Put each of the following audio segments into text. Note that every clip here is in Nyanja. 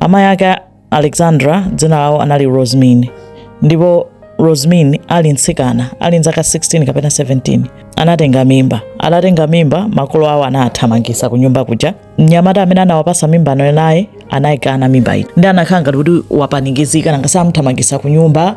Amayi ake a Alexandra dzina lawo anali Rosmin ndipo Rosmin ali mtsikana ali ndi zaka 16 kapena 17 anatenga mimba. Atatenga mimba makolo awo anawathamangisa ku nyumba kuja. Mnyamata amene anawapasa mimbayo naye anayikana mimba ija nde anakhala ngati kuti wapanikizika nanga si amuthamangisa ku nyumba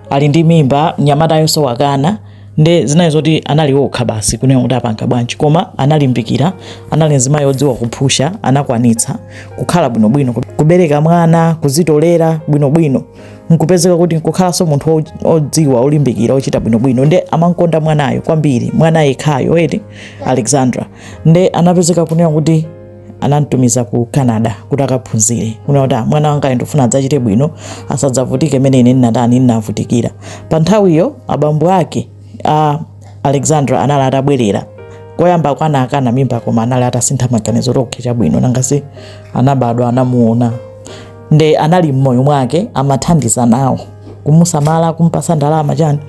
ali ndi mimba mnyamatayonso wakana nde zinali zoti anali okha basi kunena kuti apanga bwanji koma analimbikira anali mzimayi odziwa kuphusha anakwanitsa kukhala bwinobwino kubereka mwana kuzitolera bwinobwino nkupezeka kuti nkukhalanso munthu odziwa olimbikira ochita bwinobwino nde amankonda mwanayo kwambiri mwana yekhayo eti alexandra nde anapezeka kunena kuti anamtumiza ku canada kuti akaphunzire kunena kuti "Ah, mwana wanga ndikufuna adzachite bwino asadzavutike mmene ine ndinatani ndinavutikira pa nthawiyo abambo ake a alexandra anali atabwerera koyamba paja anakana mimba koma anali atasintha maganizo oke chabwino nanga si anabadwa anamuona nde anali mmoyo mwake amathandiza nawo kumusamala kumpasa ndalama chani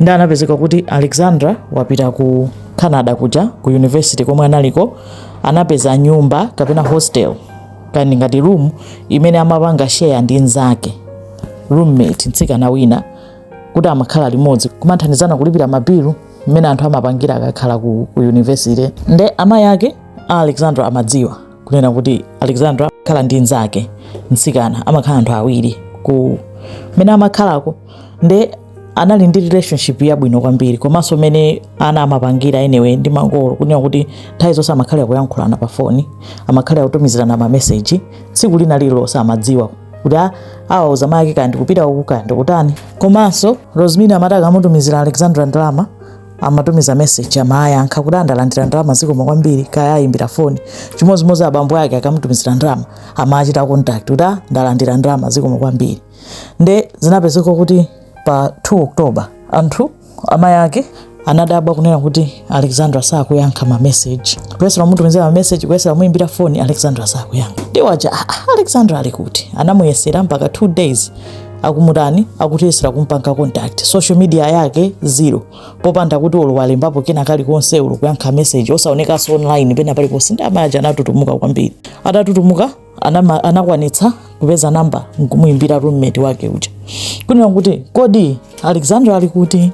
nde anapezeka kuti alexandra wapita ku canada kuja ku university komwe analiko anapeza nyumba kapena hostel kani ngati room imene amapanga share ndi nzake roommate mtsikana wina kuti amakhala limodzi kumathandizana kulipira mabilu mmene anthu amapangira akakhala ku, ku university nde amayi ake a alexandra amadziwa kunena kuti alexandra amakhala ndi nzake mtsikana amakhala anthu awiri ku mmene amakhalako nde anali ndi relationship yabwino kwambiri komanso mmene ana amapangira anyway ndi makolo kunena kuti nthawi zonse amakhalira kuyankhulana pa foni amakhalira kutumizirana mameseji tsiku lina lililonse amadziwa kuti a- awauza mayi ake kaya ndikupita uku kaya ndikutani komanso rosmin amati akamutumizira alexandra ndalama amatumiza meseji amayankha kuti a ndalandira ndalama zikomo kwambiri kaya ayimbira foni chimodzimodzi abambo ake akamutumizira ndalama amachita contact kuti a ndalandira ndalama zikomo kwambiri nde zinapezeka kuti pa 2 october anthu amayi ake anadabwa kunena kuti alexandra sakuyankha mameseji kuyesera kumutumizira mameseji kuyesera kumuimbira foni alexandra sakuyankha nde awa aja "Ah, ah, alexandra ali kuti anamuyesera mpaka 2 days akumutani akuyesera kumpanga contact social media yake zero popanda kuti olo walembapo kena kalikonse olo kuyankha meseji osaonekanso online pena paliponse nde amayi aja anatutumuka kwambiri atatutumuka anama- anakwanitsa kupeza namba nkumuyimbira roommate wake uja kunena kuti kodi alexandra ali kuti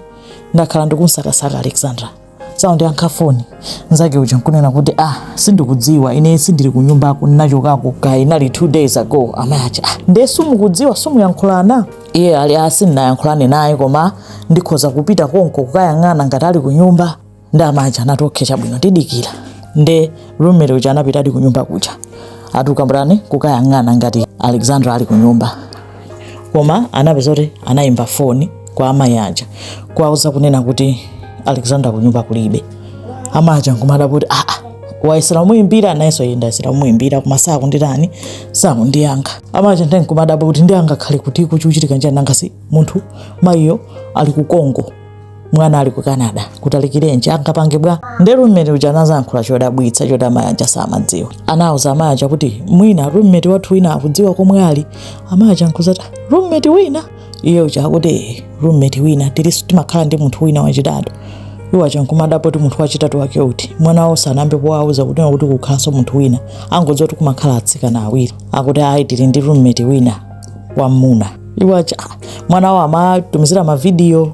ndakhala ndikumusakasaka alexandra sakundiyankha foni nzake uja nkunena kuti ah sindikudziwa ine sindili ku nyumbako ndinachokako kaya inali two days ago amayi aja ah, nde sumukudziwa simukuyankhulana iye ali a sindinayankhulane naye koma ndikhoza kupita konko kukayang'ana ngati ali ku nyumba nde amayi aja anati okay chabwino tidikira nde roommate uja anapitadi kunyumba kuja atakambirana kukayang'ana ngati alexandra ali kunyumba koma anapeza kuti anayimba foni kwa amayi aja kuwauza kunena kuti alexandra kunyumba kulibe amayi aja nkumadabwa kuti aa ah, ah, wayesera kumuyimbira nayenso yenda ayesera kumuyimbira koma sakunditani sakundiyankha amayi aja ndenkumadabwa kuti ndi angakhale kuti chikuchitika nchani nanga si munthu mayiyo ali ku Congo mwana ali ku canada kutalikirenji angapange bwa nde roommate uja anazayankhula chodabwitsa choti amayi aja samadziwa anauza amayi aja kuti mwina roommate wathu wina akudziwa komwe ali amayi aja nkuzati roommate wina iye uja akuti "Eh, roommate wina tiliso timakhala ndi munthu wina wachitatu iwo aja nkumadabwa kuti munthu wachitatu wake uti mwana wawo sanayambe wawauza kuti kukukhalanso munthu wina amangodziwa kuti kumakhala atsikana awiri akuti ayi tili ndi roommate wina wammuna iwo aja "Ah, mwana wawo amawatumizira mavidiyo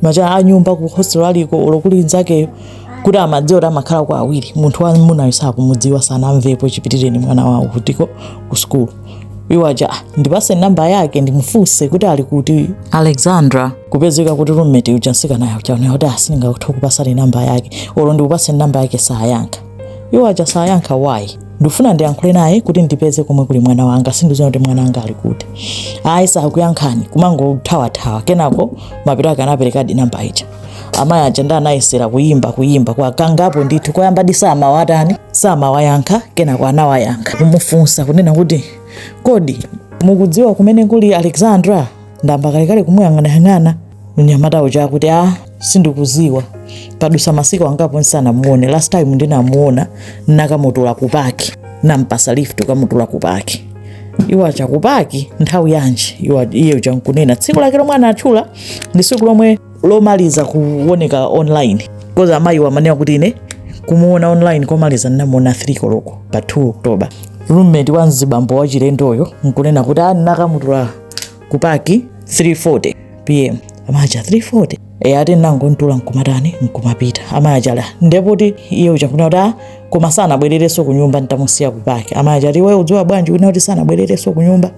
aja a nyumba ku hostel aliko olo kuli nzakeyo kuti amadziwa kuti amakhalako awiri munthu wa mmunayo sakumudziwa sanamvepo chipitireni mwana wawo kutiko ku sukulu iwo aja "Ah, ndipatse namba yake ndimufunse kuti ali kuti alexandra kupezeka kuti roommate uja mtsikana uja kunena kuti aa sindingathe kukupatsani namba yake olo ndikupatseni namba yake sayankha iwo aja sayankha why ndifuna ndiyankhule naye kuti ndipeze komwe kuli mwana wanga sindiziwa kuti mwana wanga ali kuti ayi sakuyankhani kumangothawathawa kenako mapeto ake anaperekadi namba ija amayi aja nde anayesera kuyimba kuyimba kwa kangapo ndithu koyambadi samawatani samawayankha kenako anawayankha kumufunsa kunena kuti kodi mukudziwa kumene kuli alexandra ndayamba kalekale kumuyang'anayang'ana mnyamata uja akuti a ah, sindikuziwa padutsa masiku angapo nsanamuone last time ndinamuona nakamutula kupaki nampatsa lift kukamutula kupaki iwo aja kupaki nthawi yanji iwo iye uja nkunena tsiku lake lomwe anatchula ndi tsiku lomwe lomaliza kuoneka online coz amayiwo amanena kuti ine kumuona online komaliza ndinamuona 3 koloko pa 2 oktoba roommate wa mzibambo wachilendoyo nkunena kuti aa ndinakamutula ah, ku paki 340 pm amayi aja 340 ee ati nangomtula nkumatani nkumapita amayi aja ali nde poti iye uja kunena kuti ah, koma sanabwererenso ku nyumba ntamusiya ku paki amayi aja ati iwe ukudziwa bwanji kunena kuti sanabwererenso ku nyumba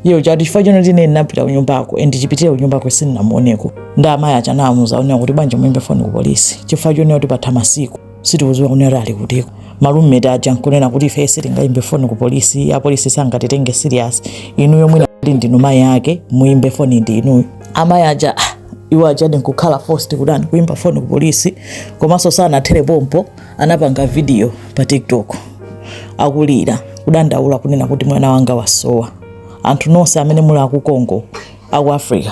iye uja ati chifukwa choti ine ndinapita ku nyumbako and chipitire ku nyumbako sindinamuoneko nde amayi aja anamuuza kunena kuti bwanji muyimbe foni ku polisi chifukwa chonena kuti patha masiku sitikudziwa kunena kuti ali kutiko roommate aja nkunena kuti ife sitingaimbe foni ku polisi apolisi sangatitenge serious inuyo mmene muli ndinu mayi ake muimbe foni ndi inuyo amayi aja ah, iwo ajadi nkukhala forced kutani kuimba foni ku polisi komanso sanathere pompo anapanga video pa tiktok akulira kudandaula kunena kuti mwana wanga wasowa anthu nonse amene muli a ku Congo aku africa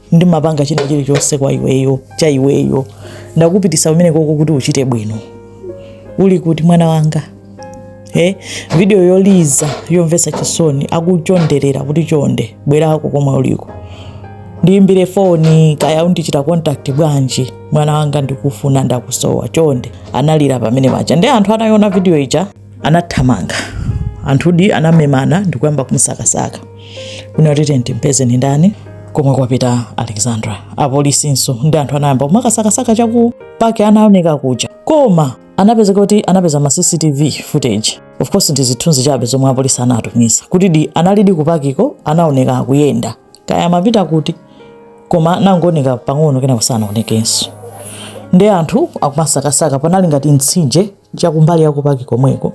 ndimapanga china chilichonse kwa iweyo cha iweyo ndakupitisa kumene koko kuti uchite bwino uli kuti mwana wanga eh? video yoliza yomvesa chisoni akuchonderera kuti chonde bwerako komwe uliko ndiimbire foni kaya undichita contact bwanji mwana wanga ndikufuna ndakusowa chonde analira pamene paja nde anthu anayiona video ija anathamanga anthudi anamemana ndikuyamba kumsakasaka kunena kuti tenti mpezeni ndani komwe kwapita alexandra apolisinso ndi anthu anayamba kumakasakasaka cha kupaki anaoneka kuja koma anapezeka kuti anapeza ma cctv footage of course ndi zithunzi chabe zomwe apolisi anatumiza kuti di analidi kupakiko anaoneka akuyenda kaya amapita kuti koma anangooneka pang'ono kenako osanaonekenso nde anthu akumasakasaka panali ngati mtsinje cha kumbali yakupaki komweko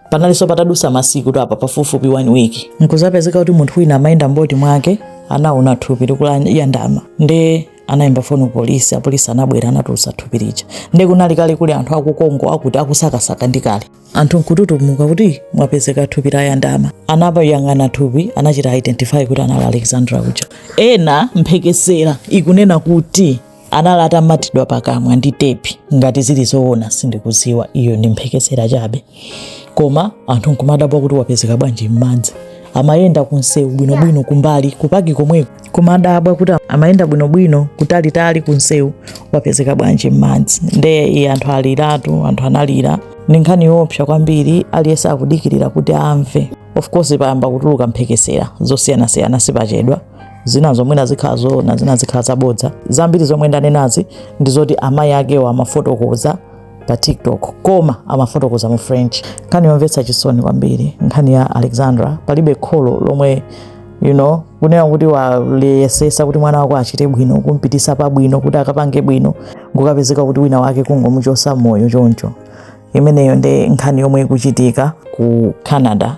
panalinso patadusa masiku to apa pafupifupi one week nkuzapezeka kuti munthu wina amayenda m'boti mwake anaona thupi likulayandama nde anayimba foni kupolisi apolisi anabwera anatulutsa thupi lija nde kunali kale kuli anthu aku Congo akuti akusakasaka ndi kale anthu nkututumuka kuti mwapezeka thupi layandama anakaliyang'ana thupi anachita identify kuti anali alexandra uja ena mphekesera ikunena kuti anali atamatidwa pakamwa ndi tepi ngati zili zoona sindikuziwa iyo ndi mphekesera chabe koma anthu nkumadabwa kuti wapezeka bwanji m'madzi amayenda kunsewu bwinobwino kumbali ya kupaki komweko kumadabwa kuti amayenda bwinobwino kutalitali kunsewu wapezeka bwanji m'madzi nde iye anthu aliratu anthu analira ndi nkhani yoopsa kwambiri aliyense akudikirira kuti amve of course payamba kutuluka mphekesera zosiyanasiyana sipachedwa zina mwina zikhala zoona zina zikhala zabodza zambiri zomwe ndanenazi ndi zoti amayi akewo amafotokoza pa tiktok koma amafotokoza mu french nkhani yomvetsa chisoni kwambiri nkhani ya alexandra palibe kholo lomwe you know kunena kuti wayesesa kuti mwana wako achite bwino kumpitisa pabwino kuti akapange bwino nkukapezeka kuti wina wake kungomuchosa moyo choncho imeneyo nde nkhani yomwe ikuchitika ku canada